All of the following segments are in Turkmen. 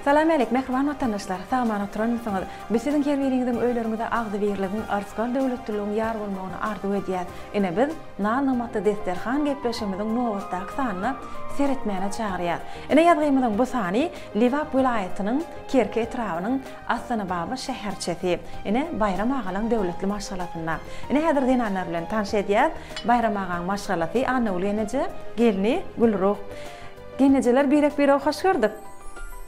Salam äleýk, mähriban watandaşlar! Sag-aman oturanmysyňyz? Biz siziň her biriňiziň öýleriňize agzybirligiň, yrsgal döwletliligiň ýar bolmagyny arzuw edýäs. Ine, biz Nal-nymatly desterhan gepleşigimiziň nobatdaky sanyna seretmäne çagyrýas. Ine, ýazgymyzyň bu sany Lebap welaýatynyň Kerki etrabynyň Astanababa şäherçesi. Ine, Baýram agalaň döwletli maşgalasynda. Ine, häzir zenanlar bilen tanş edýäs. Baýram agaň maşgalasy Annagül eneje, gelni Gülruh. Gelnejeler birek-birege hoş gördük.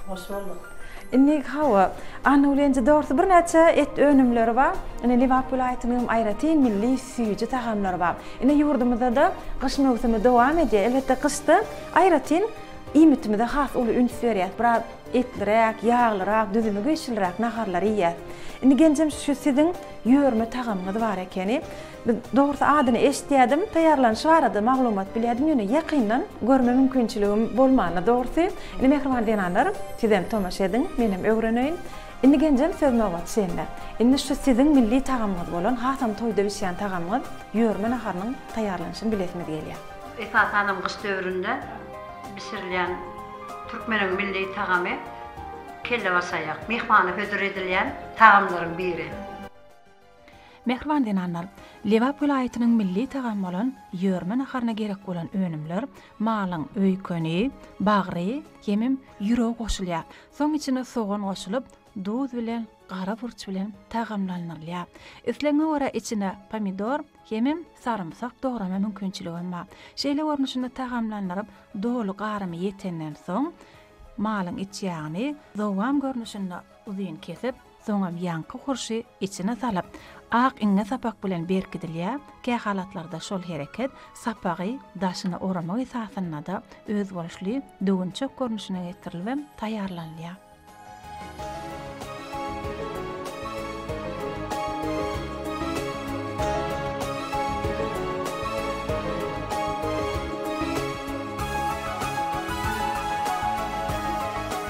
Hoş bolduk. Indi hawa, Annawlyýenje dogrusu birnäçe et önümleri bar. Ine Lebap welaýatynyň hem aýratyn milli süýji tagamlary bar. Ine ýurdumyzda-da gyş möwsümi dowam edýär. Elbetde gyşda aýratyn iýmitimize has uly üns berýäs. Biraz etliräk, ýaglyrak, düzümi güýçliräk naharlary iýýäs. Indi Genjem şu siziň ýörme tagamyňyz bar ekeni. Biz, dogrusy, adyny eşidýärdim, taýýarlanyşy barada maglumat bilýärdim, ýöne ýakyndan görme mümkinçiligim bolmandy, dogrusy. Indi, mähriban zenanlar, sizem tomaşa ediň, menem öwreneýin. Indi, genjem, söz nobaty sende. Indi şu siziň milli tagamyňyz bolan, hasam toýda bişýän tagamyňyz, ýörme naharynyň taýýarlanyşyny bilesimiz gelýär. Esasanam gyş döwründe bişirilýän türkmeniň milli tagamy kellebaşaýak, myhmana hödür edilýän tagamlaryň biri. Mähriban zenanlar, Lebap welaýatynyň milli tagamy bolan ýörme naharyna gerek bolan önümler, malyň öýkeni, bagry hemem ýüregi goşulýar. Soň içine sogan goşulyp, duz bilen gara burç bilen tagamlandyrylýar. Islegiňe görä içine pomidor hemem sarymsak dograma mümkinçiligem bar. Şeýle görnüşinde tagamlandyryp, doly garymy ýetenden soň, malyň iç ýagyny dowam görnüşinde uzyn kesip, Soňam ýaňky hurşy içine salyp, ak iňňe sapak bilen berkidilýär, kähalatlarda şol hereket sapagy daşyna oramak esasynda-da özboluşly düwünçek görnüşine getirilibem taýýarlanylýar.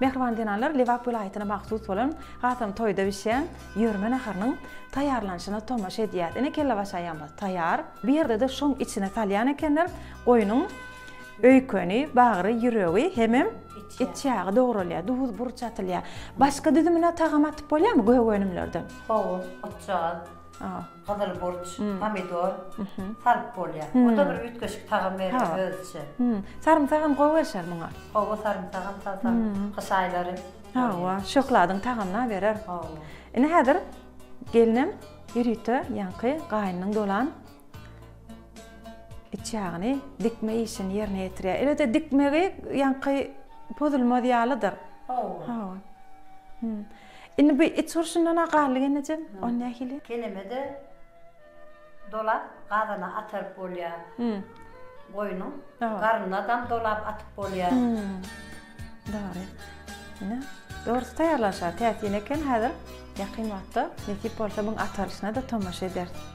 Mähriban zenanlar Lebap welaýatyna mahsus bolan Gazan toýda bişýän ýörme naharynyň taýýarlanyşyna tomaşa edýär. Ine kellebaşaýamyz taýýar. Bu ýerde-de şoň içine salýan ekenler, goýnuň öýkeni, bagry, ýüregi hemem it ýagy dogralýar, duz, burç atylýar. Başga düzümine tagam atyp bolýarmy göge önümlerden? Howuz, otjagaz. Gyzyl burç, pomidor salyp bolýar. O-da bir üýtgeşik tagam berýär özüçe. Sarymsagam gowy gelşer muňa. Hawa, sarymsagam salsaň gyş aýlary. Hawa, şöhladyň tagamyna berer. Hawa. Indi häzir gelnem ýörite ýaňky gaýnynyň dolan iç ýagyny dikme işini ýerine ýetirýär. Elbetde dikmegi ýaňky pozulmaz ýalydyr. Hawa. Hawa. Indi bu it urşundan-a galdy gelnejem, ony nähili? Keleme-de dolap gazana ataryp bolýar. Goýnuň garynynadam dolap atyp bolýar. Dogry. Ine, dogrusy taýýarlanyşar. Täsin eken, häzir ýakyn wagtda nesip bolsa muň ataryşyna-da tomaşa ederis.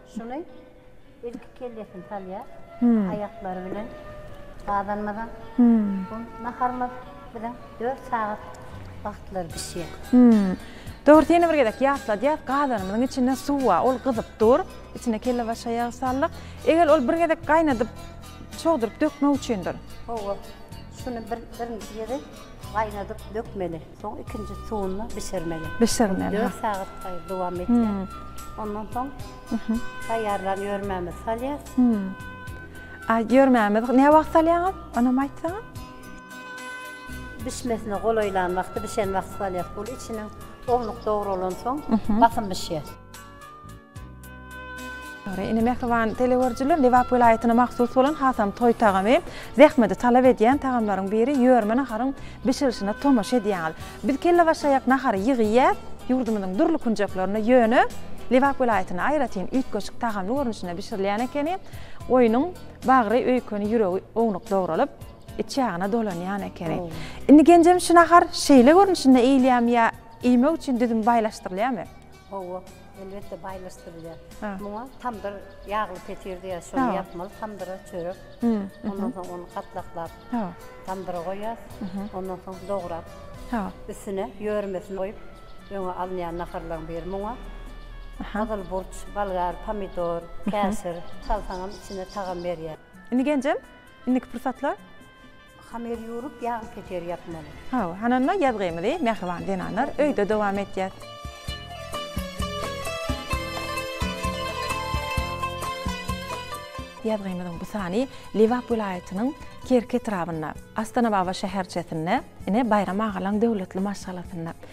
Şuny ilki kellesini salýar, aýaklary bilen gabanmadan. Bu naharymyz biziň dört sagat wagtlary bişýär. Dogrusy ýene bir gezek ýatladýas, gazanymyzyň içinde suw bar, ol gyzyp dur, içine kellebaş aýagy saldyk. Egil ol bir gezek gaýnadyp, çogduryp dökmek üçindir. Hawa, şuny birinji gezek gaýnadyp dökmeli. Soň ikinji suwunda bişirmeli. Bişirmeli. Dört sagat gaýy dowam etýär. Ondan soň taýýarlan ýörmämizi salýas. A ýörmämizi ne wagt salýaňyz? Onam aýtsaňyz. Bişmesine golaýlan wagty, bişen wagty salýas. Ol içiniň ownuk dogrulan soň basym bişýär. Ine mähriban telegörüjiler, Lebap welaýatyna mahsus bolan hasam toý tagamy, zähmeti talap edýän tagamlaryň biri ýörme naharyň bişirilişine tomaşa edýäňiz. Biz kellebaşaýak nahary ýygy iýýäs, ýurdumyzyň dürli künjeklerinde ýöne Lebap welaýatynda aýratyn üýtgeşik tagamly görnüşinde bişirilýän ekeni, goýnuň bagry öýkeni ýüregi ownuk dogralyp, iç ýagyna dolanýan ekeni. Indi genjem şu nahar şeýle görnüşinde iýilýämi ýa iýmek üçin düzüm baýlaşdyrylýamy? Hawa, elbetde baýlaşdyrylýar. Muňa tamdyr ýagly petir diýýär, şony ýapmaly, tamdyra çörek, ondan soň ony gatlaklap, tamdyra goýýar, ondan soň dograp, üstüne ýörmesini goýup, öňe alynýan naharlaryň biri. Muňa gyzyl burç, bolgar, pomidor, käşir salsaňam içine tagam berýär. Indi genjem, indiki pursatlar Hamyr ýurup, ýag peçer ýapmaly. Hawa, hananda ýazgymyzy Mähriban zenanlar öýde dowam etýär. Ýazgymyzyň bu sany Lebap welaýatynyň Kerki etrabynda, Astanababa şäherçesinde, ine, Baýram agalaň döwletli maşgalasynda,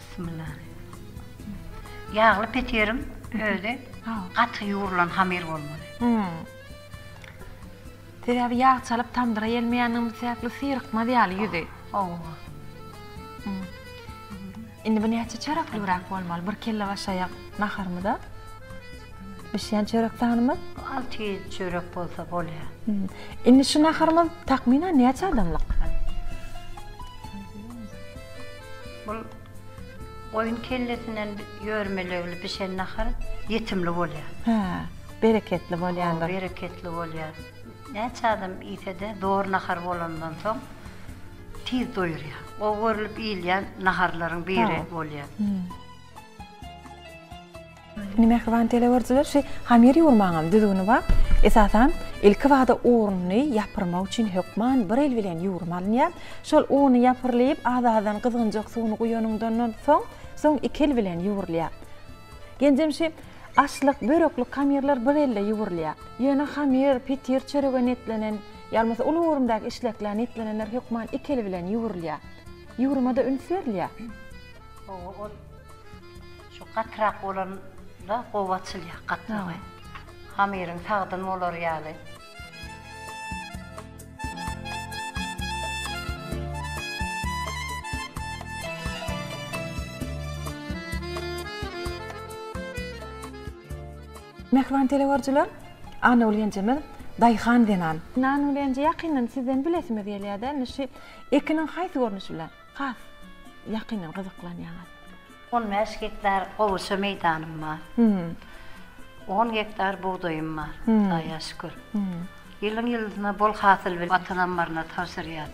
Bismillah. Ýagly petiriň özi gaty ýugrulan hamyr bolmaly. Hum. Sebäbi ýag çalyp tamdyra ýelmeýänligimiz sebäpli syrykmaz ýaly ýüzi. Hawa. Indi bu näçe çöreklibräk bolmaly? Bir kelle başaýak naharymyza. Bişýän çörek sanymyz? Alty ýedi çörek bolsa bolýar. Indi şu naharymyz takmynan näçe adamlyk? Bul goýun kellesinden ýörmelegli bişen nahar ýetimli bolýar. Hä, bereketli bolýandyr. Hawa, bereketli bolýar. Näçe adam iýse-de, dor nahar bolandan soň tiz doýurýar. Gowy görlüp iýilýän naharlaryň biri bolýar. Indi mähriban telegörüjiler şu hamyr ýugurmaňam düzgüni bar. Esasan, ilki bada uny ýapyrmak üçin hökman bir el bilen ýugurma alynýar. Şol uny ýapyrlyp, az-azdan gyzgynjak suwuny guýanyňdandan soň, soň iki el bilen ýugurylýar. Genjem şu aşlyk, böreklik hamyrlar bir elde ýugurylýar. Ýöne hamyr, petir, çörege niýetlenen, ýa bolmasa uly göwrümdäki işleklä niýetlenenler hökman iki el bilen ýugurylýar. Ýugurmada üns berilýär. Oňa ol. Şu gatyrak bolanda gowy açylýar gatlagy. Hamyryň sagdyn bolar ýaly. Mähriban telewyarjylar, Annaguly ýenjemiz daýhan zenan. Annaguly ýenje ýakyndan sizden bilesimiz gelýär-de, indi şu ekiniň haýsy görnüşi bilen has ýakyndan gyzyklanýaňyz? On bäş gektar gowaça meýdanym bar. On gektar bugdaýym bar, Hudaýa şükür. Ýylyň ýyldyna bol hasyl bilen Watan ammaryna tabşyrýas.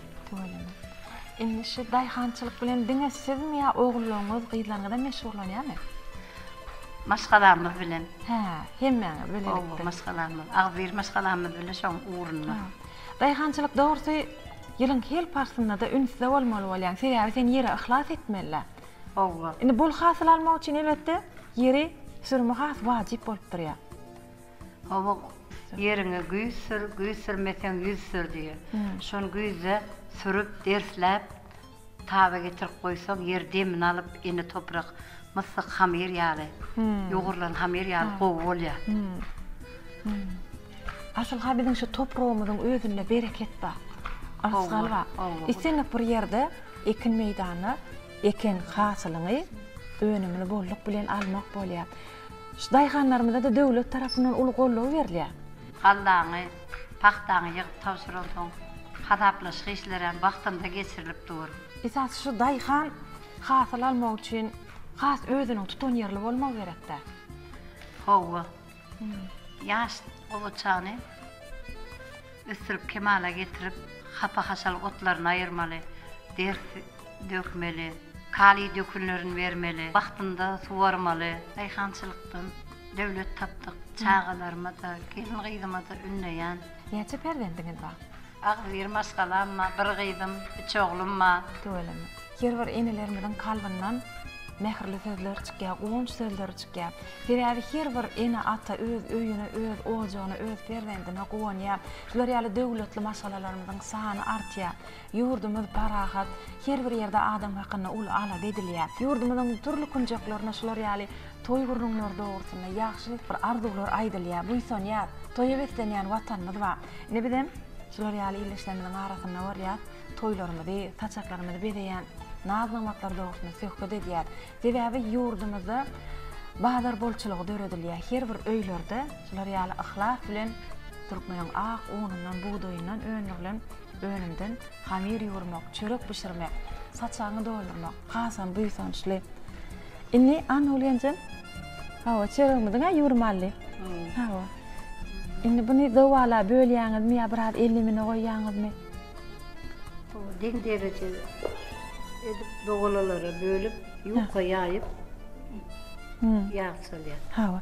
Indi şu daýhançylyk bilen diňe sizmi ýa ogullaryňyz, gyzlaryňyzam meşgullanýarmy? Maşgalamyz bilen. Hä, hemmäňiz bilelikde. Hawa, maşgalamyz, agzybir maşgalamyz bilen şoň ugrunda. Daýhançylyk dogrusy ýylyň hil paslynda-da ünsde bolmaly bolýaň. Sebäbi sen ýere yhlas etmeli-dä. Howwa. Indi bol hasyl almak üçin elbetde ýeri sürme has wajyp bolup durýar. Howwa, ýeriňe güýz sür, güýz sürmeseň ýüz sür diýýär. Şony güýzde sürüp, dersläp, taba getirip goýsaň, ýer demini alyp, ene toprak myssyk hamyr ýaly, ýugrulan hamyr ýaly gowy bolýar. Asylha biziň şu topragymyzyň özünde bereket bar. Arsy galba. Islendik bir ýerde ekin meýdanda eken hasylyňy önümini bolluk bilen almak bolýar. Şu daýhanlarymyza-da döwlet tarapyndan uly goldaw berilýär. Gallaňy, pagtaňy ýygyp tabşyransoň, hasaplaşyk işlerem wagtynda geçirilip dur. Esasy şu daýhan hasyl almak üçin has özüniň tutanýerli bolmagy gerek-dä. Hawa. Ýaş gowaçany ösdürip kemala getirip, hapa-haşal otlaryny aýyrmaly, ders dökmeli, kaliý dökünlerini bermeli, wagtynda suwarmaly. Daýhançylykdan döwlet tapdyk, çagalarymyza-da, gelin-gyzyma-da ündeýän. Näçe perzendiňiz bar? Agzybir maşgalam bar, bir gyzym, üç oglum bar. Tüweleme. Her bir enelerimiziň kalbyndan mähirli sözler çykýar, guwanç sözleri çykýar. Sebäbi her bir ene, ata öz öýüne, öz ojagyna, öz perzendine guwanýar. Şular ýaly döwletli maşgalalarymyzyň sany artýar. Ýurdumyz parahat, her bir ýerde adam hakynda uly alada edilýär. Ýurdumyzyň dürli künjeklerinde şular ýaly toý gürrüňleri dogrusynda ýagşy bir arzuwlar aýdylýar, buýsanýar. Toýa beslenýän Watanymyz bar. Ine bizem şular ýaly ildeşlerimiziň arasynda bolýas. toýlarymyzy, saçaklarymyzy bezeýän naz-namatlary dogrusynda söhbet edýär. Sebäbi ýurdumyzda bazar bolçulygy döredilýär. Her bir öýlerde şular ýaly yhlas bilen türkmeniň ak unundan, bugdaýyndan öndürilen önümden hamir ýuwurmak, çörek bişirmek, saçagyňy doldurmak hasam buýsançly. Indi Annaguly enjem Hawa, çörügimiziň-ä ýüwrüm aldy. Hawa. Indi buny zowala bölýäňizmi ýa biraz ellimine goýýaňyzmy? Deň dereje edip zowalalara bölüp, ýuka ýaýyp ýag salýar. Hawa.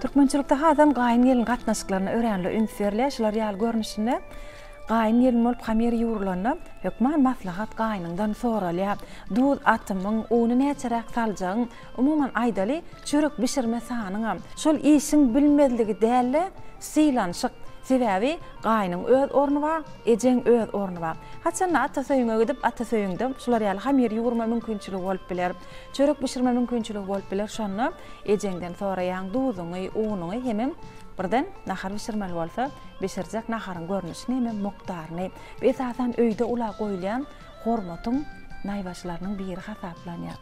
Türkmençilikde hasam gaýyn-gelin gatnaşyklaryna öränli üns berilýär. Şular ýaly görnüşinde gaýyn-gelin bolup hamyr ýugrulanda, hökman maslahat gaýynyňdan soralýar. Duz atymyň, uny näçeräk saljagyň, umuman aýdaly, çörek bişirme sanyňam şol işiň bilinmezligi däl-de, sylanyşyk. Sebäbi gaýynyň öz orny bar, ejeň öz orny bar. Haçanda atasöýüňe gidip, atasöýüňde şular ýaly hamyr ýugurma mümkinçiligi bolup biler. Çörek bişirme mümkinçiligi bolup biler şonda ejeňden soraýaň duzuňy unuňy hemem birden nahar bişirmeli bolsa bişirjek naharyň görnüşini hemem mukdaryny bu esasan öýde ula goýulýan hormatyň naýbaşylarynyň biri hasaplanýar.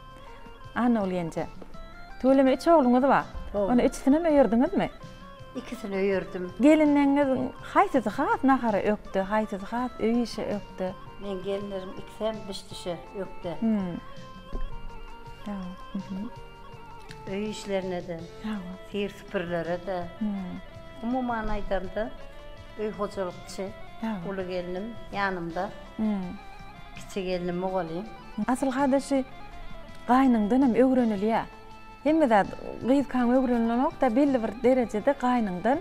Annaguly ýenje. Tüweleme üç ogluňyz bar. Ony üçüsinem öýerdiňizmi? Ikisini öýerdim. Gelinleriňiz haýsysy has nahara ökde, haýsysy has öý işe ökde? Meň gelinlerim ikisem biş-dişe ökde. Öý işlerine-de, hir süpürilere-de. Umuman aýdanda, öý hojalykçy. Uly gelnim ýanymda. Kiçi gelnim mugallym. Asylhada şu gaýnyňdan hem öwrenilýär. Hemme zat gyzkaň öwrenilenokda belli bir derejede gaýnyňdan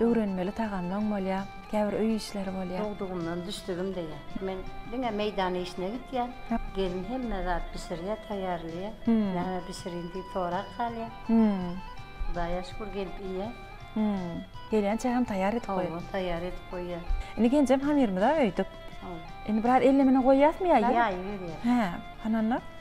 öwrenmeli tagamlaň bolýar, käbir öý işleri bolýar. Dogdugymdan düşdigim deýä. Men diňe meýdan işine gitýän. Gelin hemme zat bişirýär, taýýarlaýar. Näme bişiriň diýip sorap galýar. Hudaýa şükür gelip iýýän. Gelýänçä hem taýýar edip goýýar. Hawa, taýýar edip goýýar. Indi genjem hamyrymyza öýdüp. Indi biraz ellemine goýýasmy ýa? Ýaýyberýär. Hä, hananda.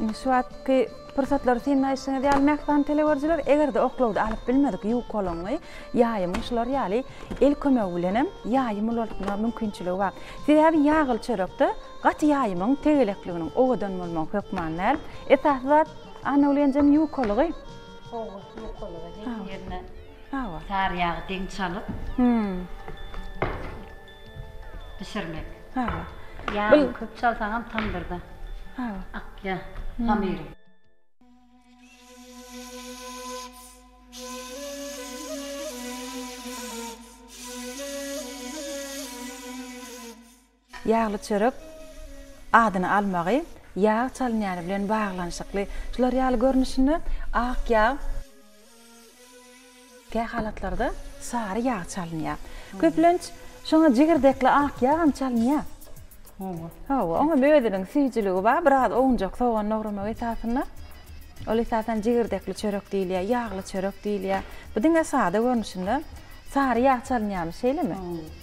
Indi şu wagtky pursatlary synlaýşyňyz ýaly mähriban telegörijiler, eger-de oklawda alyp bilmedik ýüwük golaňy, ýaýymy şular ýaly el kömegi bilenem ýaýymy ulaltma mümkinçiligi bar. Sebäbi ýagyl çörekde gaty ýaýymyň tegelekliginiň owadan bolmagy hökman däl. Esasy zat Annaulyýenjeň ýukalygy. Howwa, ýukalygy. Her ýerine sary ýagy deň çalyp. bişirmek. Hawa. Ýagyny köp çalsaňam tamdyrda. Hawa. Akýar hamyry. Ýagly çörek adyny almagy ýag çalynýany bilen baglanyşykly. Şular ýaly görnüşinde ak ýag. Kähalatlarda sary ýag çalynýar. Köplenç şoňa jigirdekli ak ýagam çalynýar. Hawa. Hawa, oňam özüniň süýjüligi bar. Biraz owunjak sogany dogramak esasynda. Ol esasan jigirdekli çörek diýilýär, ýagly çörek diýilýär. Bu diňe sada görnüşinde sary ýag çalynýarmyş, şeýlemi? Hawa.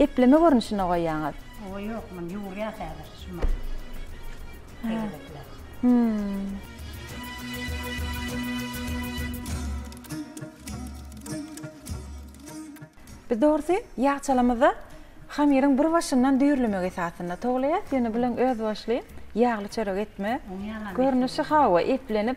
Epleme görnüşinde goýýaňyz. Oba ýok muny ýugurýas häzir şumy. Tegelekler. Hmm. Biz dogrusy ýagçalamyzda hamyryň bir başyndan düýrlemek esasynda towlaýas, ýöne bileň özboluşly ýagly çörek etme görnüşi hawa eplenip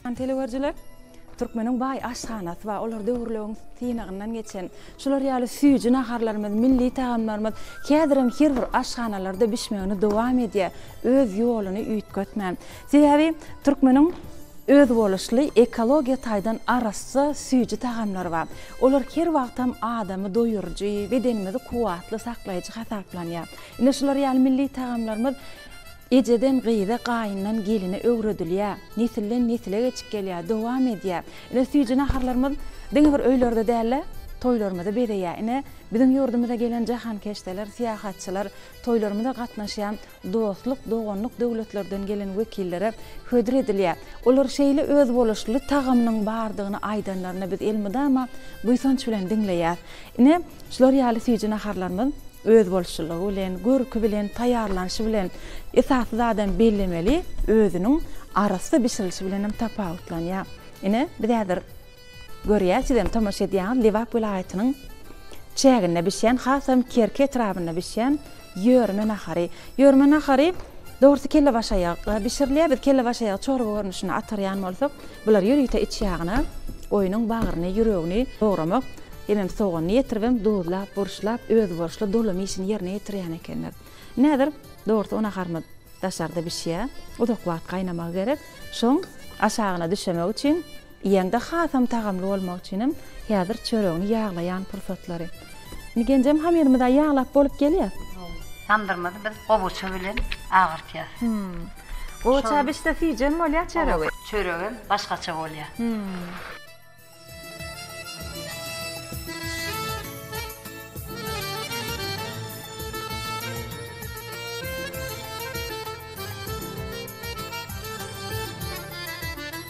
Hormatly teleüerjiler, Türkmeniň baý aşhanasy bar, olar döwürlewiň synagyndan geçen. Şular ýaly süýji naharlarymyz, milli tagamlarymyz häzirem her bir aşhanalarda bişmegini dowam edýär, öz ýoluny üýtgetmän. Sebäbi Türkmeniň özboluşly ekologiýa taýdan arassa süýji tagamlary bar. Olar her wagtam adamy doýuryjy, bedenimizi kuwwatly saklaýjy hasaplanýar. Ine şular ýaly milli tagamlarymyz Ejeden gyza, gaýyndan geline öwredilýär. Nesilden nesile geçip gelýär, dowam edýär. Ine süýji naharlarymyz diňe bir öýlerde däl-de, toýlarymyzy bezeýär. Ine, biziň ýurdumyza gelen jahankeşdeler, syýahatçylar, toýlarymyza gatnaşýan dostluk, doganlyk döwletlerden gelen wekillere hödür edilýär. Olar şeýle özboluşly tagamynyň bardygyny aýdanlarynda biz elmydama buýsanç bilen diňleýäs. Ine, şular ýaly süýji naharlarymyz özboluşlylygy bilen, görki bilen, taýýarlanyşy bilen, esasy zadam bellemeli, özüniň arassa bişirilişi bilen hem tapawutlanýar. Ine, biz häzir görýäs, siz hem tomaşa edýäňiz, Lebap welaýatynyň çäginde bişýän, hasam Kerki etrabynda bişýän Ýörme nahary. Ýörme nahary, dogrusy kellebaş aýagy bişirilýär. Biz kellebaş aýagy çorba görnüşinde atarýan bolsak, bular ýörite iç ýagyna goýnuň bagryny, ýüregini dogramak, hemem soganyny ýetiribem duzlap, burçlap, özboluşly dolum işini ýerine ýetirýän ekenler. Indi häzir, dogrusy o naharymyz daşarda bişýär. Uzak wagt gaýnamagy gerek. Şoň aşagyna düşemek üçin Iýende hasam tagamly bolmagy üçinem häzir çöregini ýaglaýan pursatlary. Indi genjem hamyrymyza ýaglap bolup gelýär. Tamdyrymyzy biz gowaça bilen agyrtýas. Gowaça bişse süýjem bolýar çöregi. Çöregem başgaça bolýar.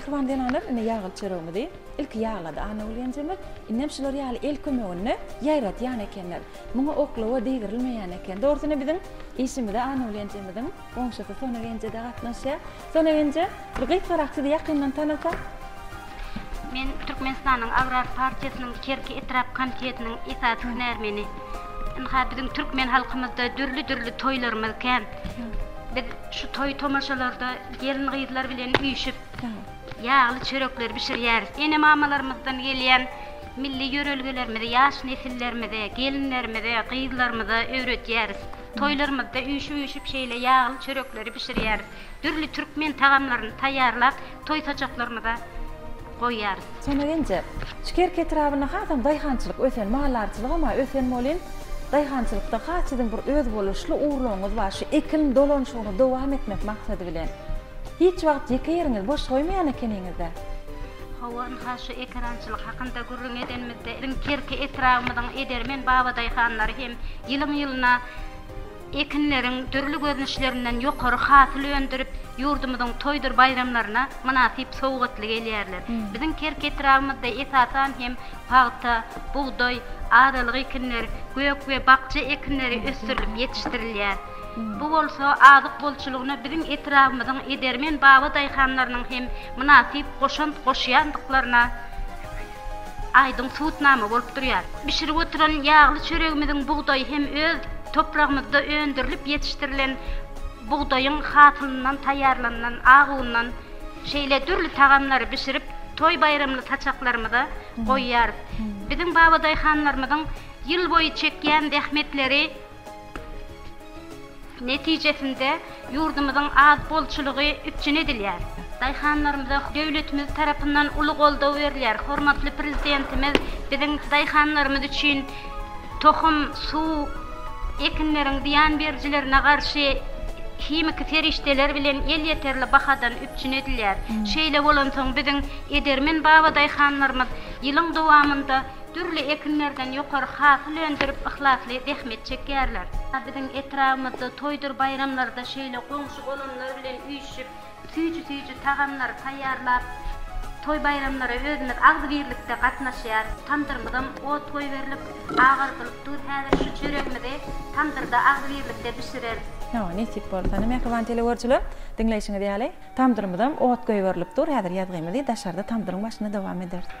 Mähriban zenanlar indi ýagly çöregimizi ilki ýaglady Annagül ýenjemiz. Indem şular ýaly el kömeginde ýaýradýan ekenler. Muňa oklawa degrilmeýän eken. Dogrusyna biziň işimize Annagül ýenjemiziň goňşusy Sona ýenje-de gatnaşýar. Sonegenje, bir gykyrak sizi ýakyndan tanasak. Men Türkmenistanyň Agrar partiýasynyň Kerki etrap komitetiniň esasy hünärmeni. Ynha, biziň türkmen halkymyzda dürli-dürli toýlarymyz kän. Biz şu toý-tomaşalarda gelin-gyzlar bilen üýşüp, ýagly çörekleri bişirýäris. Ene-mamalarymyzdan gelýän milli ýörelgelerimizi ýaş nesillerimize, gelinlerimize, gyzlarymyza öwredýäris. Toýlarymyzda üýşüp-üýşüp şeýle ýagly çörekleri bişirýäris. Dürli türkmen tagamlaryny taýýarlap, toý saçaklarymyza goýýarys. Sona gelince, şu Kerki etrabynda hasam daýhançylyk ösen, maldarçylygam ösen bolyn. Daýhançylykda has siziň bir özboluşly ugurlaryňyz bar, şu ekin dolanyşygyny dowam etmek maksady bilen. Hiç wagt ýeke ýeriňizi boş goýmaýan ekeniňiz-dä? Hawa, ynha, şu ekerançylyk hakynda gürrüň edenimizde, biziň Kerki etrabymyzyň edermen babadaýhanlary hem ýylyň-ýylyna ekinleriň dürli görnüşlerinden ýokary hasyl öndürip, ýurdumyzyň toýdur baýramlaryna mynasyp sowgatly gelýärler. Biziň Kerki etrabymyzda esasan hem pagta, bugdaý, azalyk ekinler, gök we bakja ekinleri ösdürilip ýetişdirilýär. Bu bolsa azyk bolçulygyna biziň etrabymyzyň edermen baba daýhanlarynyň hem mynasyp goşant goşýandyklaryna aýdyň subutnama bolup durýar. Bişirip oturan ýagly çöregimiziň bugdaýy hem öz topragymyzda öndürilip ýetişdirilen bugdaýyň hasylyndan taýýarlanylan ak undan şeýle dürli tagamlary bişirip, toý-baýramly saçaklarymyza goýýarys. Biziň baba daýhanlarymyzyň ýylboýy çekýän zähmetleri, Netijesinde, ýurdumyzyň az bolçulygy üpjün edilýär. Daýhanlarymyza döwletimiz tarapyndan uly goldaw berilýär. Hormatly Prezidentimiz biziň daýhanlarymyz üçin tohum, suw, ekinleriň zyýan berijilerine garşy himiki serişdeler bilen elýeterli bahadan üpjün edilýär. Şeýle bolansoň, biziň edermen babadaýhanlarymyz ýylyň dowamynda Dürli ekinlerden ýokary hasyl öndürip, yhlasly zähmet çekýärler. Biziň etrabymyzda toýdur baýramlarda şeýle goňşy-golamlar bilen üýşüp, süýji-süýji tagamlary taýýarlap, toý-baýramlara özümiz agzybirlikde gatnaşýarys. Tamdyrymyzam ot goýberlip, agardylyp dur. Häzir şu çöregimizi tamdyrda agzybirlikde bişireris. Hawa, nesip bolsa. Ine, mähriban telegörüjiler, diňleýşiňiz ýaly, tamdyrymyzam ot goýberlip dur. Häzir ýazgymyzy daşarda tamdyryň başynda dowam ederis.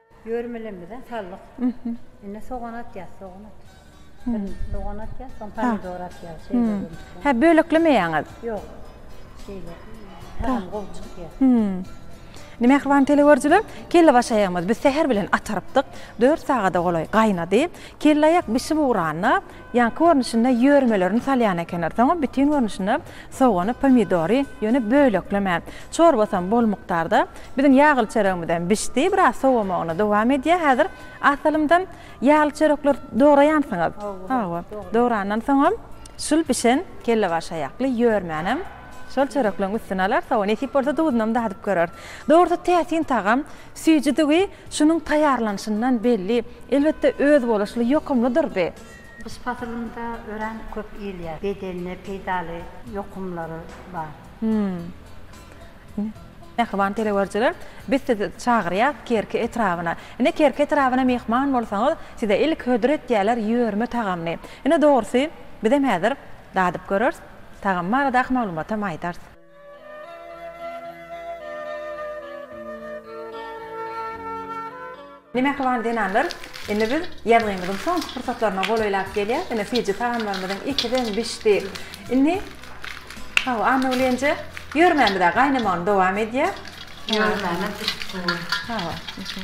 Ýörmelemize saldyk. Indi sogan atýas, sogan at. Birini sogan atýas, soň pomidor atýas. Şeýle görnüşde. Hä, böleklemeýäňiz? Ýok. Şeýle. Tamam, gowy çykýar. Indi mähriban teleýüzerçiler, kellebaş aýagymyzy biz säher bilen atarypdyk. Dört sagada golaý gaýnady. Kelleaýak bişip ugranda, Ýaňky görnüşinde ýörmelerini salýan ekenler. Soňam bütin görnüşinde sogany, pomidory, ýöne böleklemän. Çorbasam bol mukdarda. Biziň ýagly çöregimizem bişdi. Biraz sowamagyna dowam edýär. Häzir az salymdan ýagly çörekler dograýansyňyz. Hawa, dograndan soňam şul bişen kellebaş aýakly ýörmänem şol çörekleň üstüne alar. Hawa, nesip bolsa duzunam dadyp göreris. Dogrusy täsin tagam. Süýjüdigi şunuň taýýarlanyşyndan belli, elbetde, özboluşly ýokumlydyrdy. Gyş pasylynda örän köp iýilýär. Bedenine peýdaly ýokumlary bar. Ine, mähriban telewyörjiler, biz sizi çagyrýas Kerki etrabyna. Ine, Kerki etrabyna myhman bolsaňyz, size ilki hödür etýärler ýörme tagamyny. Ine, dogrusy, bizem häzir dadyp göreris, tagam baradaky maglumatam aýdarys. Ine mähriban zenanlar, indi biz ýazgymyzyň soňky pursatlaryna golaýlap gelýäs. Ine süýji tagamlarymyzyň ikisem bişdi. Indi Hawa, Annagulyýenje, ýörmäni biz-ä gaýnamagyny dowam edýär. Ýörmänem bişip dur. Hawa.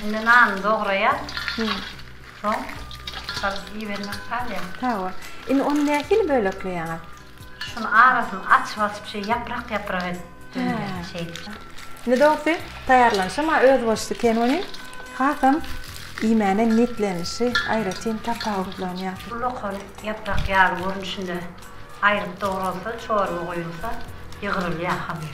Indi nany dograýan. Soň salys iýibermek galýar. Hawa. Indi ony nähili bölekleýäňiz? Şuny arasyny açyp açyp şeý ýaprak ýaprak edip döndürýän şeý. Indi dogrusy taýýarlanyşy maňa özboluşly ken welin hasam iýmäne niýetlenişi aýratyn tapawutlanýar. Bu lokan ýaprak ýaly görnüşinde aýryp dogralsa çorba goýulsa ýygrylýar hamyr.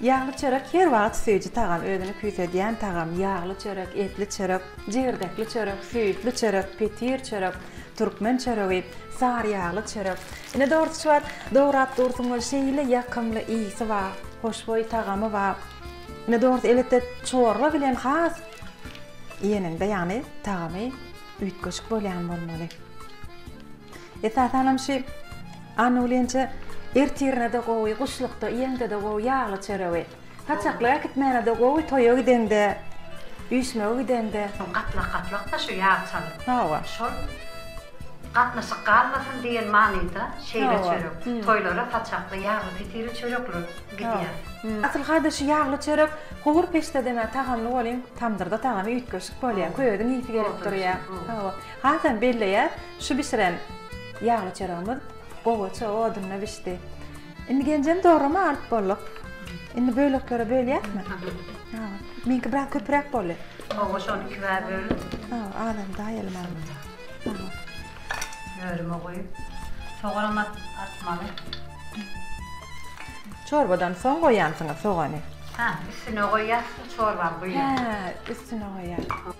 Ýagly çörek her wagt süýji tagam, özüni küýsedýän tagam, ýagly çörek, etli çörek, jigirdekli çörek, süýtli çörek, petir çörek, türkmen çöregi, sary ýagly çörek. Ine dogrusyçy bar, dograp dursuň weli şeýle ýakymly ysy ba, hoşboý tagamy ba. Ine dogrusy elbetde çorba bilen has iýeniňde ýagny tagamy üýtgeşik bolýan bolmaly. Esasanam şü Anna ulynja ertirine-de gowy, guşlukda iýeňde-de gowy ýagly çöregi. Saçaklyk äkitmäne-de gowy, toýa gideňde, üýşmege gideňde. Soň gatlak-gatlak-da şü ýag çalyp. Hawa. Şol gatnaşyk galmasyn diýen manyda şeýle çörek. Toýlara saçakly, ýagly pitiri çörekler gidýär. Asylka-da şü ýagly çörek howur peçde deme tagamly bolyň, tamdyrda tagamy üýtgeşik bolýar, köýeziň ýyýsi gelip durýar. Hawa. Hasam belleýär. Şu bişiren ýagly çöregimiz gowaça odunda bişdi. Indi genjem dograma alyp bolduk. Indi böleklere bölýäsmi? Ha. Meňki biraz köpüräk boldy. Hawa, şony iki bäbe bölüp. Ha, adam daýaly many. Hawa. Bölüme goýup, soganam atmaly. Çorbadan soň goýýansyňyz sogany? Ha, üstüne goýýas, çorbany guýýas. Ha, üstüne goýýas.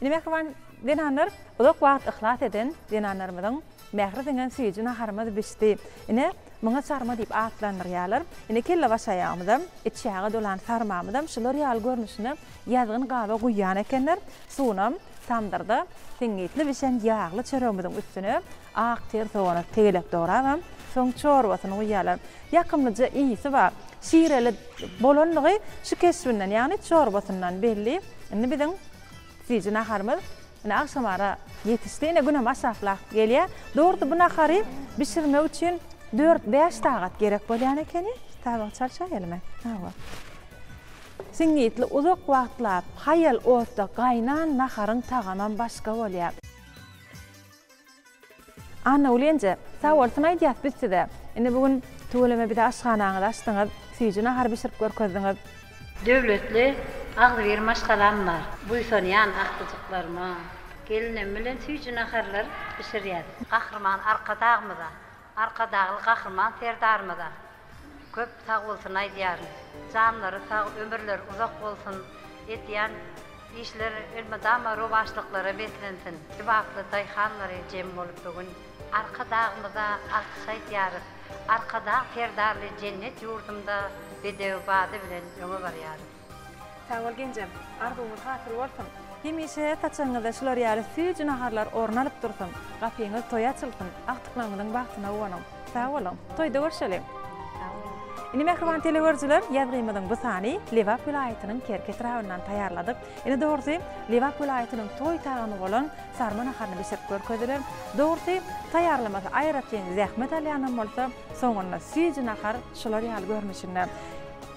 Indi mähriban zenanlar uzak wagt yhlas eden zenanlarymyzyň mähri siňen süýji naharymyz bişdi. Ine, muňa sarma diýip atlandyrýarlar. Ine, kellebaş aýagymyzam, içýaga dolan sarmamyzam şular ýaly görnüşine ýazgyn gaba guýýan ekenler. Suwunam tamdyrda siňňitli bişen ýagly çöregimiziň üstüne Ak ter sogany tegelek dorabam, soň çorbasyny guýýarlar. Ýakymlyja ysy bar. Şireli bolanlygy şu keşbinden, ýagny çorbasyndan belli. Indi biziň süýji naharymyz ine agşamara ýetişdi. Ine günem aşaklap gelýär. Dogrusy bu nahary bişirmek üçin dört-bäş sagat gerek bolýan ekeni. Tabagy çalşaýaly men. Hawa. Siňňitli uzak wagtlap haýal otda gaýnan naharyň tagamam başga bolýar. Anna Ulenje, Sag bolsun aýdýas biz size. Indi bu gün tüweleme bize aşhanaňyzy açdyňyz, süýji nahar bişirip görkezdiňiz. Döwletli, agzybir maşgalam bar. Buýsanýan agtyjyklaryma. Gelinim bilen süýji naharlar bişirýäs. Gahryman Arkadagymyza, Arkadagly Gahryman Serdarymyza köp sagbolsun aýdýaryn. Janlary sag, ömürleri uzak bolsun, edýän işleri elmydama rowaçlyklara beslensin. Kybaply daýhanlary jem bolup bu gün Arkadagymyza alkyş aýdýarys. Arkadag Serdarly jennet ýurdumda bedew bady bilen öňe barýarys. Sag bol genjem. Arzuwyňyz hasyl bolsun. Hemişe saçagyňyzda şular ýaly süýji naharlar orun alyp dursun. Gapyňyz toýa açylsyn. Agtyklaryňyzyň bagtyna guwanyň. Sag boluň. Toýda görşeliň. Sag boluň. Ine mähriban telegörüjiler, ýazgymyzyň bu sany Lebap welaýatynyň Kerki etrabyndan taýýarladyk. Ine dogrusy, Lebap welaýatynyň toý tagamy bolan sarma naharyny bişirip görkezdiler. Dogrusy, taýýarlamasy aýratyn zähmet alýanam bolsa, soňunda süýji nahar şular ýaly görnüşinde.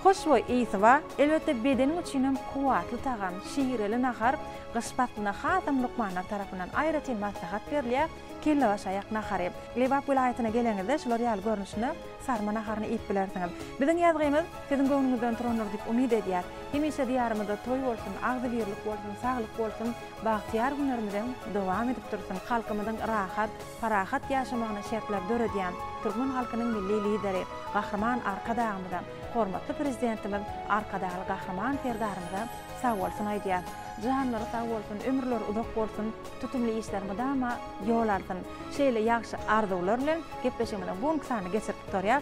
Hoşboý ysy bar. Elbetde bedeniň üçin hem kuwwatly tagam, şireli nahar gyş paslyna hasam lukmanlar tarapyndan aýratyn maslahat berilýär, kellebaşaýak nahary. Lebap welaýatyna geleňizde şular ýaly görnüşine sarma naharyny iýip bilersiňiz. Biziň ýazgymyz siziň göwnüňizden turandyr diýip umyt edýär. Hemişe diýarymyzda toý bolsun, agzybirlik bolsun, saglyk bolsun, bagtyýar günlerimiz hem dowam edip dursun, halkymyzyň rahat, parahat ýaşamagyna şertler döredýän türkmen halkynyň Milli Lideri Gahryman Arkadagymyza, hormatly Prezidentimiz Arkadagly Gahryman Serdarymyza sag bolsun aýdýar. Janlary sag bolsun, ömürleri uzak bolsun, tutumly işler mydama ýol alsyn. Şeýle ýagşy arzuwlar bilen gepleşigimiziň bu günki sanyny geçirip gutarýas.